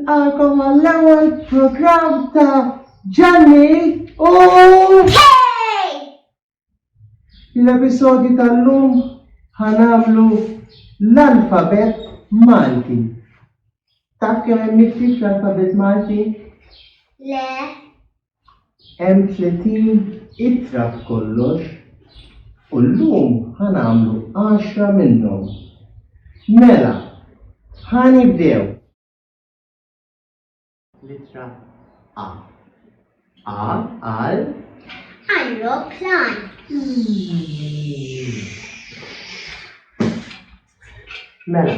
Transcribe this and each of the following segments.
nilqakom għall-ewwel programm ta' Ġanni u Hey! L-episodju tal-lum ħanamlu l-alfabet Malti. Taf kemm hemm miktib l-alfabet Malti? Le. Hemm tletin ittra b'kollox u llum ħa nagħmlu għaxra minnhom. Mela, ħa nibdew! L-ittra A. A għal. Ajruplan. Mela,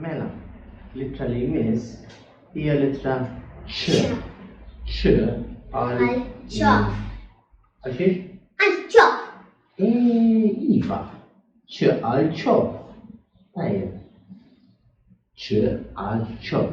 Mela, l-ittra li jmiss hija l-ittra ċ. ċ għal. ċaf. Għal xiex? Għal ċaf. Iva, ċ għal ċaf. Tajjeb. ċ għal ċaf.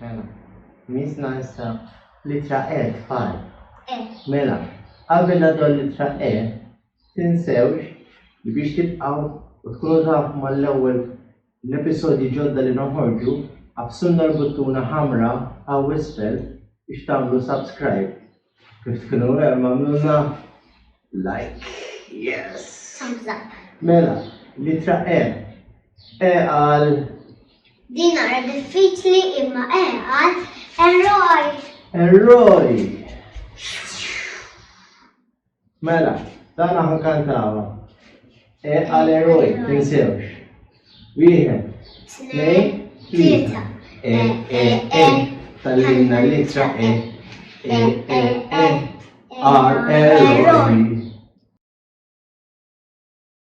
Mela, mis naqsa litra E tfal. E. Mela, qabel naddu litra E, tinsewx li biex tibqaw u tkunu tafu mal-ewwel l-episodji ġodda li noħorġu, absunna l-buttuna ħamra hawn isfel biex tagħmlu subscribe. Kif tkunu vera magħmluża? Like, yes! Thumbs up. Mela, litra E. E għal. Din naqra diffiċli imma E għal eroj. Eroj! Mela, dan aħna kantawha. E għal eroj, tinsewx. Wieħed, tnejn, tlieta. E, e, e, tal-limna l-ittra e. E, e, e, għal eroj.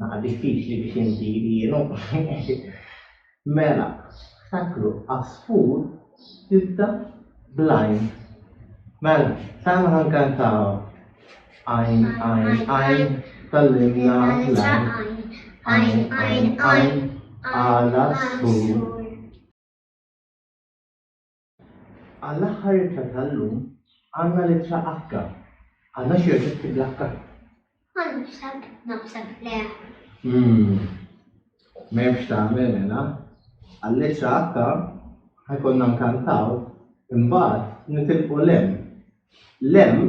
Naħa diffiċli biex inti jrienu. Mela, ftakru, għasfur tibda blajn. Mela, tagħna ħankantaw. Għajn, għajn, għajn, tal-limna lajn. Għajn, għajn, għajn, għala sfur. Għall-aħħar ittra tal-lum għandna l-ittra H. Għandna xi oġġetti bl-H? Ma naħseb, naħseb le. Umm. M'hemmx tagħmel mela. Għall-ittra H ħa jkollna nkantaw, imbagħad nitilqu l-M. L-M